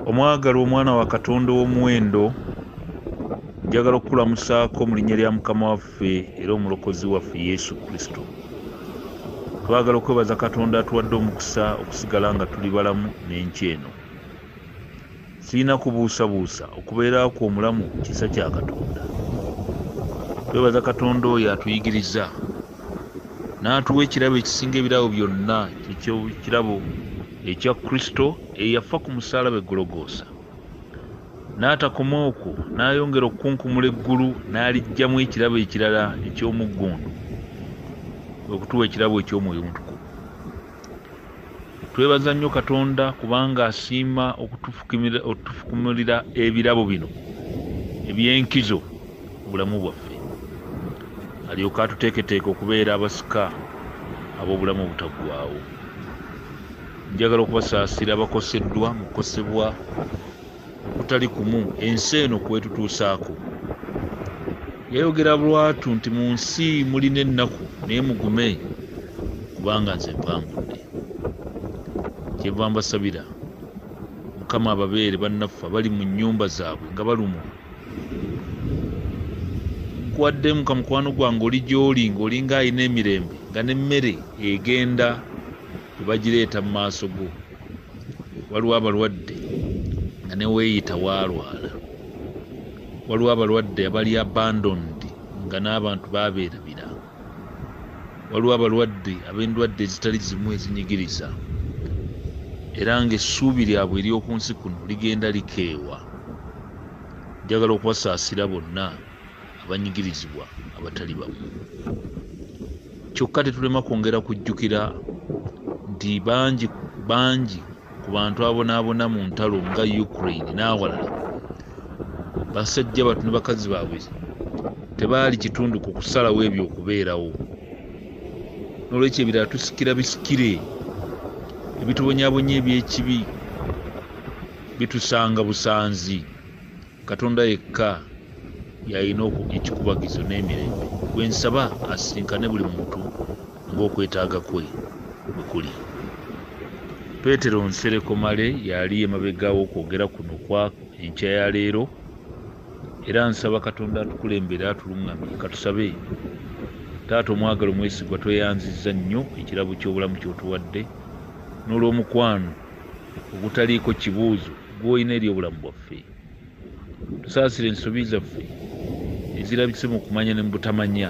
omwagala omwana wa katonda ow'omuwendo njagala okukulamusaako mu linnya lya mukama waffe era omulokozi waffe yesu kristo twagala okwebaza katonda atuwadde omukisa okusigala nga tuli balamu n'enkya eno Sirina kubuusabuusa okubeera kwo omulamu kisa kya Katonda. Twebaza Katonda oyo atuyigiriza n'atuwa ekirabo ekisinga ebirabo byonna eky'ekirabo ekya Kristo eyafa ku musaalaba e Gologoosa. N'atakoma okwo n'ayongera okukunkumula eggulu n'aliggyamu ekirabo ekirala eky'omuggundu, kwe kutuwa ekirabo eky'omwoyo omutukuvu. Twebaza nnyo Katonda kubanga asiima okutufukumulira ebirabo bino eby'enkizo mu bulamu bwaffe alyoke atuteeketeeke okubeera abasika ab'obulamu obutaggwaawo. Njagala okubasaasira abakoseddwa mu kukosebwa okutali kumu ensi eno kwetutuusaako yayogera lwatu nti mu nsi mulina ennaku naye mugume kubanga nze mpangudde kyeva mbasabira mukama ababeere bannaffe abali mu nyumba zaabwe nga balumwa nkuwaddemu ka mukwano gwange oli gyoli ngaolinga alina emirembe nga nemmere egenda ebagireeta mu maaso go waliwo abalwadde nga neweeyita waalwala waliwo abalwadde abali abandoned nga n'abantu babeerabira waliwo abalwadde ab'endwadde ezitali zimu ezinyigiriza era ng'essuubi lyabwe ery'oku nsi kuno ligenda likeewa njagala okubasaasira bonna abanyigirizibwa abatali bamu kyokka tetulema kwongera kujjukira nti bangi bangi ku bantu abonaabona mu ntalo nga ukraine n'awalala basajja batu ne bakazi baabwe tebaali kitundu ku kusalawo ebyo okubeerawo n'olwekyo ebirala tusikira bisikire ebitubonyabonya eby'ekibi bitusanga busanzi katonda yekka yalina ekikubagizo n'emirembe gwe nsaba asisinkane buli muntu ng'okwetaaga kwe bwe kuli peetero nsereko male yali emabega w'okwogera kuno kwa enkya ya leero era nsaba katonda atukulembere atuluŋŋamye katusabe taata omwagala omwesigwa tweyanzizza nnyo ekirabo ky'obulamu ky'otuwadde n'olw'omukwano ogutaliiko kibuuzo gw'olina eri obulamu bwaffe tusaasira ensobi zaffe ezirabise mu kumanya ne mu butamanya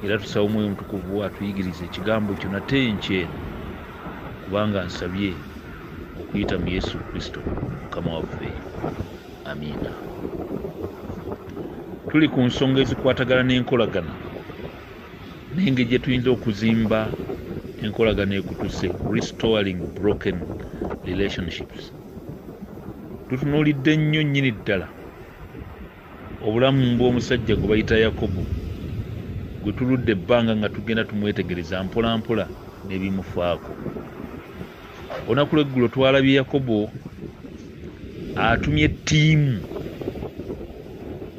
era tusaba omwoyo omutukuvu atuyigiriza ekigambo kyo nate enkyeno kubanga nsabye okuyita mu yesu kristo mukama waffe amiina tuli ku nsonga ezikwatagana n'enkolagana n'engeri gye tuyinza okuzimba enkolagana ekutuse restoring broken relationships tutunuulidde nnyo nnyini ddala obulamu bw'omusajja gwe bayita yakobo gwe tuludde ebbanga nga tugenda tumwetegereza mpolampola n'ebimufaako olunaku lweggulo twalabye yakobo atumye ttiimu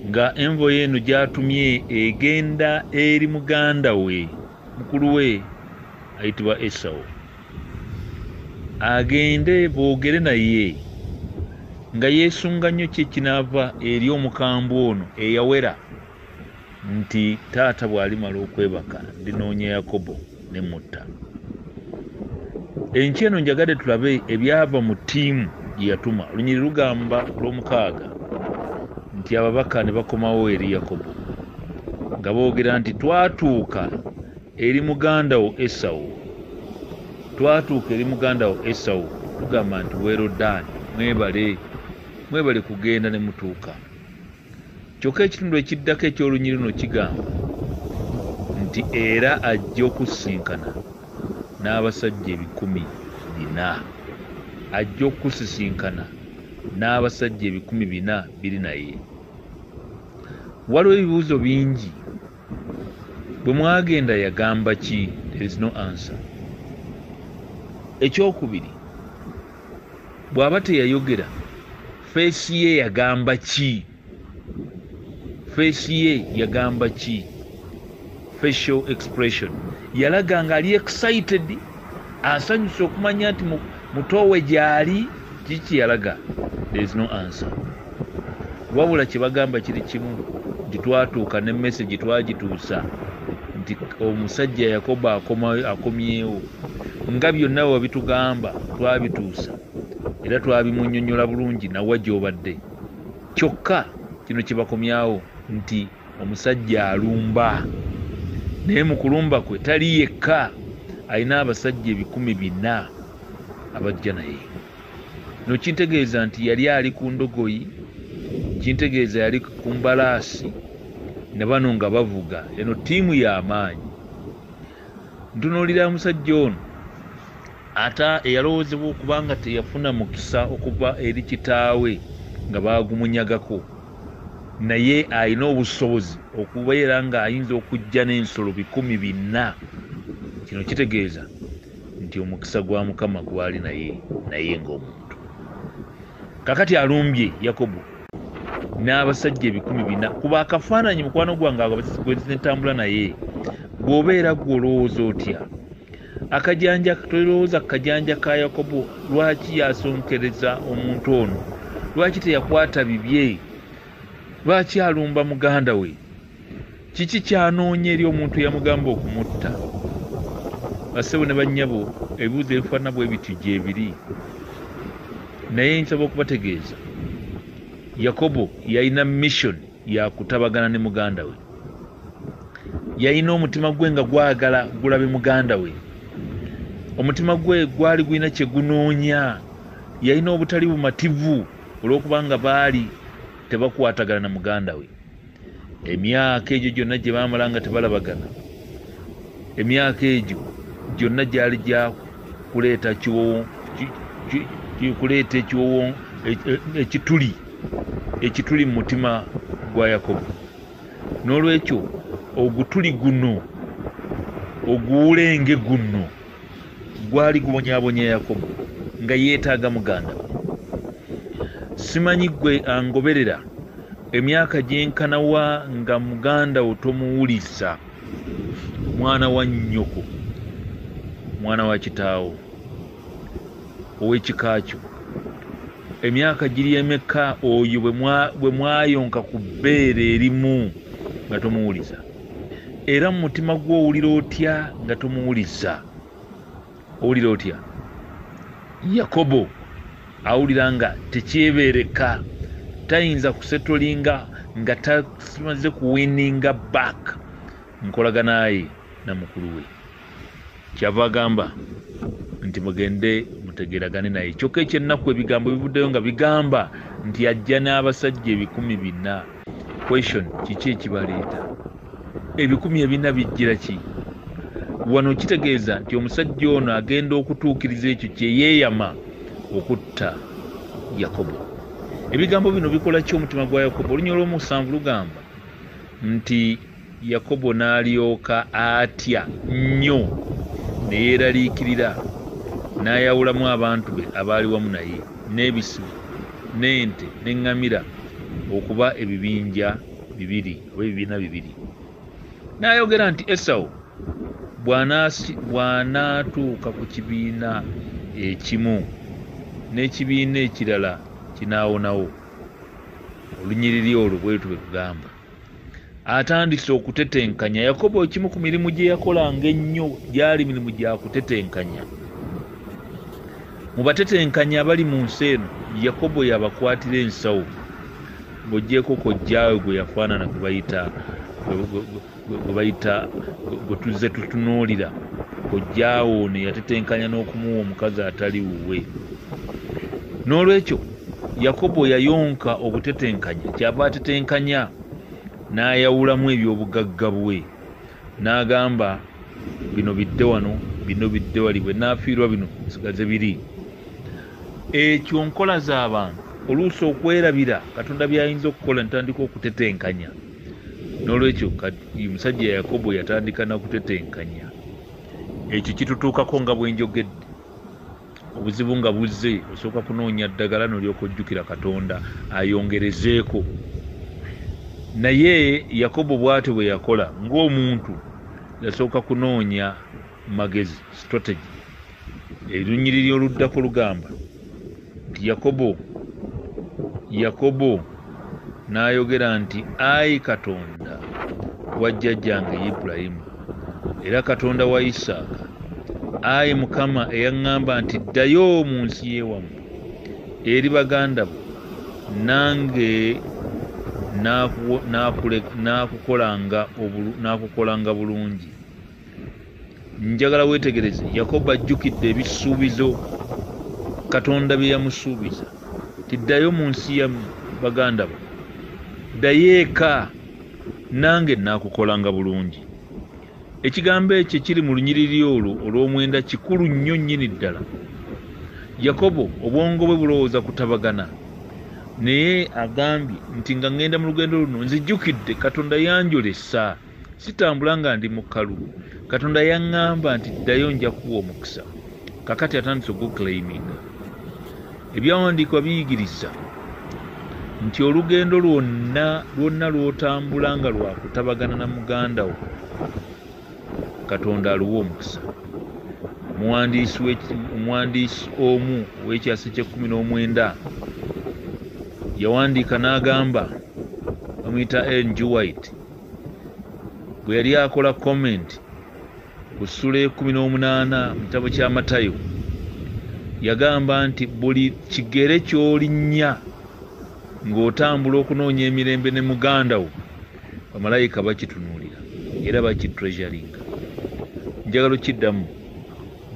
nga envoyo eno gy'atumye egenda eri muganda we mukulu we ayitibwa esawo agende boogere naye nga yeesunga nnyo kye kinaava eri omukambwe ono eyawera nti taata bw'alimala okwebaka ndinoonya yakobo ne mutta enkya eno njagadde tulabe ebyava mu ttiimu gye yatuma olunyiri lugamba lw'omukaaga nti ababaka ne bakomawo eri yakobo nga boogera nti twatuuka eri muganda wo esawo twatuuka eri muganda wo esawo tugamba nti weerodaani mwebale mwebale kugenda ne mutuuka Kyokka ekitundu ekiddako eky'olunyiri luno kigamba nti era ajja okusisinkana n'abasajja ebikumi bina ajja okusisinkana n'abasajja ebikumi bina biri naye waliwo ebibuuzo bingi bwe mwagenda yagamba ki there is no answer ekyokubiri bw'aba teyayogera feesi ye yagamba ki feesi ye yagamba ki facial expression yalaga nga ali excited asanyusa okumanya nti mutoowe gyali kiki yalaga there is no answer wabula kyebagamba kiri kimu nti twatuuka ne message twagituusa nti omusajja yakoba akomyewo nga byonna wabitugamba twabituusa era twabimunyonyola bulungi nawa gyobadde kyokka kino kyebakomyawo nti omusajja alumba naye mu kulumba kwe tali yekka alina abasajja ebikumi bina abajja naye no kintegeeza nti yali ali ku ndogoyi kintegeeza yali ku mbalaasi ne bano nga bavuga eno ttiimu y'amaanyi ntunuulira omusajja ono Ate eyalowoozebwa okuba nga teyafuna mukisa okuva eri kitaawe nga baagumunyagako, naye alina obusobozi okubeera ng'ayinza okujja n'ensolo bikumi binna. Kino kitegeeza nti omukisa gwa Mukama gwali naye, naye ng'omuntu. Kakati alumbye Yakobo n'abasajja ebikumi bina. Kuba akafaananyi mukwano gwange gwe ntambula naye, bw'obeera gwe olowooza otya? Akajanja tolowooza ku kajanja ka Yakobo lwaki yasonkereza omuntu ono? Lwaki teyakwata bibye? Lwaki alumba muganda we? Kiki kyanoonya eri omuntu eyamugamba okumutta? Bassebo ne bannyabo, ebibuuzo ebifaanana bwe bityo gyebiri. Naye nsaba okubategeeza, Yakobo yalina missoni yakutabagana ne muganda we yalina omutima gwe nga gwagala gulabe muganda we omutima gwe gwali gulina kyegunoonya yalina obutali bumativu olwokubanga baali tebakwatagana na muganda we emyaka egyo gyonna gye baamala nga tebalabagana emyaka egyo gyonna gyali gyakuleeta kiwowo kuleeta ekiwowo e, e, ekituli ekituli mu mutima gwa Yakobo. N'olwekyo ogutuli guno oguwulenge guno gwali gubonyabonya Yakobo nga yeetaaga muganda we. Simanyi gwe angoberera emyaka gyenkana wa nga muganda wo tomuwuliza, mwana wa nnyoko, mwana wa kitaawo. ow'ekika kyo emyaka giri emeka oyo bwe mwayonka ku bbeere erimu nga tomuwuliza era mu mutima gwo owulira otya nga tomuwuliza owulira otya yakobo awulira nga tekyebeereka tayinza kusetolinga nga tamaze kuwininga back nkolaganaye namukulu we kyava agamba nti mugende mutegeragane naye kyokka ekyennaku ebigambo bivuddeyo nga bigamba nti ajja n'abasajja ebikumi bina question kiki ekibaleeta ebikumi ebina bijjira ki wano kitegeeza nti omusajja ono agenda okutuukiriza ekyo kyeyeeyama okutta yakobo ebigambo bino bikola ki omutima gwa yakobo olunya olwomusanvu lugamba nti Yakobo n'alyoka atya nnyo ne yeeraliikirira, n'ayawulamu abantu be abaali wamu naye, n'ebisibo, n'ente, n'eŋŋamira, okuba ebibinja bibiri oba ebibiina bibiri. N'ayogera nti, Esawu bw'anaatuuka ku kibiina ekimu, n'ekibiina ekirala kinaawonawo. Olunyiriri olwo bwe lutyo bwe lugamba. atandise okutetenkanya yakobo ekimu ku mirimu gye yakolanga ennyo gyali mirimu gya kutetenkanya mu batetenkanya abali mu nsi eno yakobo yabakwatira ensawo ng'ogyeko kojjaawe gwe yafaanana gwe bayita gwe bayita gwe tuzze tutunuulira kojjaawe ono yatetenkanya n'okumuwa omukazi atali wuwe n'olwekyo Yakobo yayonka obutetenkanya, kyava atetenkanya n'ayawulamu eby'obugagga bwe, n'agamba bino bidde wano, bino bidde wali, bwe naafiirwa bino nsigaze biri. Ekyo nkola z'abantu oluusi okwerabira Katonda by'ayinza okukola ntandika okutetenkanya. N'olwekyo omusajja Yakobo yatandika na kutetenkanya. Ekyo kitutuukako nga bwe njogedde. obuzibu nga buzze osooka kunoonya ddagala nolyoka ojjukira katonda ayongerezeeko naye yakobo bwatyo bwe yakola ng'omuntu yasooka kunoonya magezi strategy erunyiriri oluddako lugamba nti yakobo yakobo N'ayogera nti, Ayi Katonda wa jjajjange Ibulayimu, era Katonda wa Isaaka, ayi Mukama eyaŋŋamba nti, Ddayo mu nsi y'ewammwe, eri baganda bo, nange nnaakukolanga bulungi. njagala weetegereze yakobo ajjukidde ebisuubizo katonda bye yamusuubiza tiddayo mu nsi ya baganda bo ddayo eka nange naakukolanga bulungi ekigambo ekyo ekiri mu lunyiriri olwo olw'omwenda kikulu nnyo nnyini ddala yakobo obwongo bwe bulowooza kutabagana naye agambye nti nga ŋŋenda mu lugendo luno nzijjukidde katonda yanjolesa sitambula nga ndi mu kalulu katonda yaŋŋamba nti ddayo nja kuwa omukisa kakati atandise oguclaiminga ebyawandiikwa biyigiriza nti olugendo lwonna lwonna lwotambula nga lwakutabagana na muganda wo katonda aluwa omukisa omuwandiisi omu ow'ekyasa ekyekumi n'omwenda yawandiika n'agamba bamuyita ng white bwe yali akola comment ku ssula ekumi n'omunaana mu kitabo kya matayo yagamba nti buli kigere ky'olinnya ng'otambula okunoonya emirembe ne muganda wo bamalayika bakitunuulira era bakitreasuringa njagala okiddamu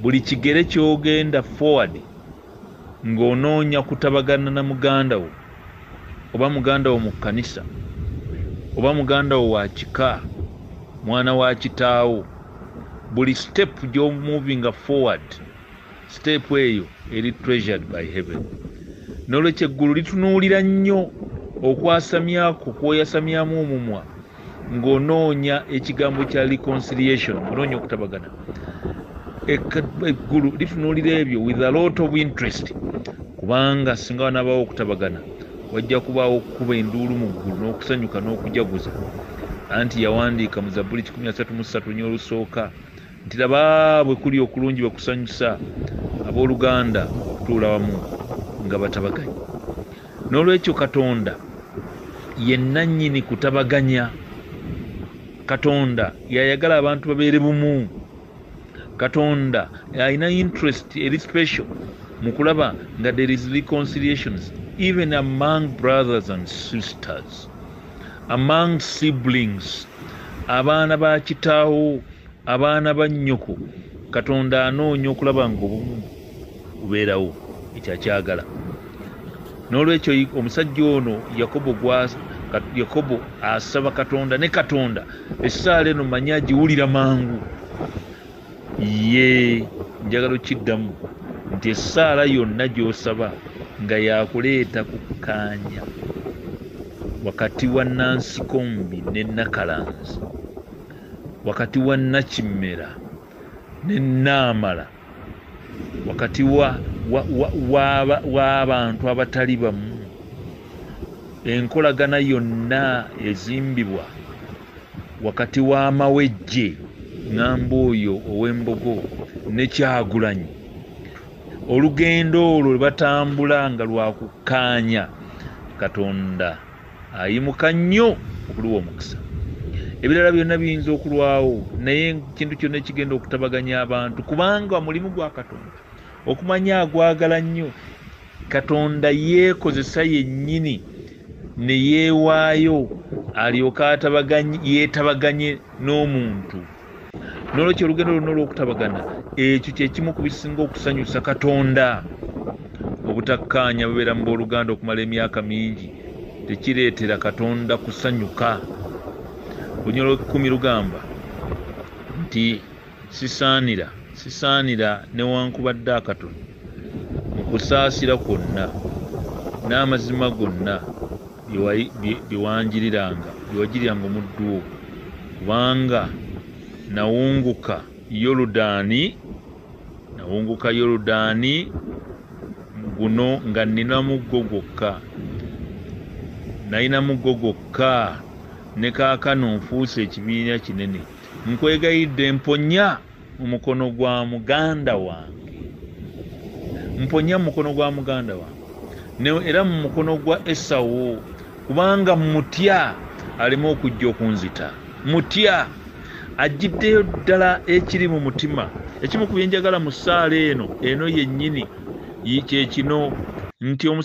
buli kigere ky'ogenda forward ng'onoonya kutabagana na muganda wo oba muganda wo mu kkanisa oba muganda wo wa kika mwana wa kitaawo buli sitepu gy'omuvinga forward sitepu eyo eri treasured by heaven n'olwekyo eggulu litunuulira nnyo okwasamyako kwoyasamyamu omumwa ng'onoonya ekigambo kya reconciliation onoonya okutabagana eggulu litunuulira ebyo with a lot of interest kubanga singa wanabaawo okutabagana wajja kubaawo okukuba enduulu mu ggulu n'okusanyuka n'okujaguza anti yawandiika mu zabbuli 133 nyo olusooka nti laba bwe kuli okulungi bwe kusanyusa abooluganda okutuula wamu nga batabaganya n'olwekyo katonda ye nannyini kutabaganya katonda yayagala abantu babeere bumu katonda alina interest eri special mu kulaba nga there is reconciliations even among brothers and sisters among siblings abaana ba kitaawo abaana ba nnyoko katonda anoonya okulaba nga obumu bubeerawo ekyo akyagala n'olwekyo omusajja ono yakobo yakobo asaba katonda ne katonda essaala eno manyi agiwulira mangu ye njagala okiddamu nti essaala yonna gy'osaba nga yakuleeta kukkaanya wakati wa nansikombi ne nakalanzi wakati wa nakimmera ne naamala wakati w'abantu abatali bamu enkolagana yonna ezimbibwa wakati w'amawejje ŋamba oyo ow'embogo ne kyagulanyi olugendo olwo lwebatambula nga lwakukkaanya katonda ayimuka nnyo okuliwa omukisa ebirala byonna biyinza okulwawo naye ekintu kyonna ekigenda okutabaganya abantu kubanga mulimu gwa katonda okumanya agwagala nnyo katonda yeekozesa yennyini ne yeewaayo alyoke yeetabaganye n'omuntu nolwekyo olugendo lwonna olwokutabagana ekyo kyekimu ku bisinga okusanyusa katonda obutakkaanya bubeera mu booluganda okumala emyaka mingi tekireetera katonda kusanyuka lunyolo ekumi lugamba nti sisaanira sisaanira newankubadde akatono mu kusaasira kwonna n'amazima gonna byewanjiriranga byewajiriranga omuddu wo kubanga nawunguka yoludaani nawunguka yoludaani guno nga nina muggo gwokka nalina muggo gwokka ne kaakano nfuuse ekibiina kinene nkwegayidde mponya mu mukono gwa muganda wange mponya mu mukono gwa muganda wange era mu mukono gwa esawo kubanga mutya aleme okujja okunzita mutya ajjiddeyo ddala ekiri mu mutima ekimu ku byenjagala mu ssaala eno eno yennyini kyekino nti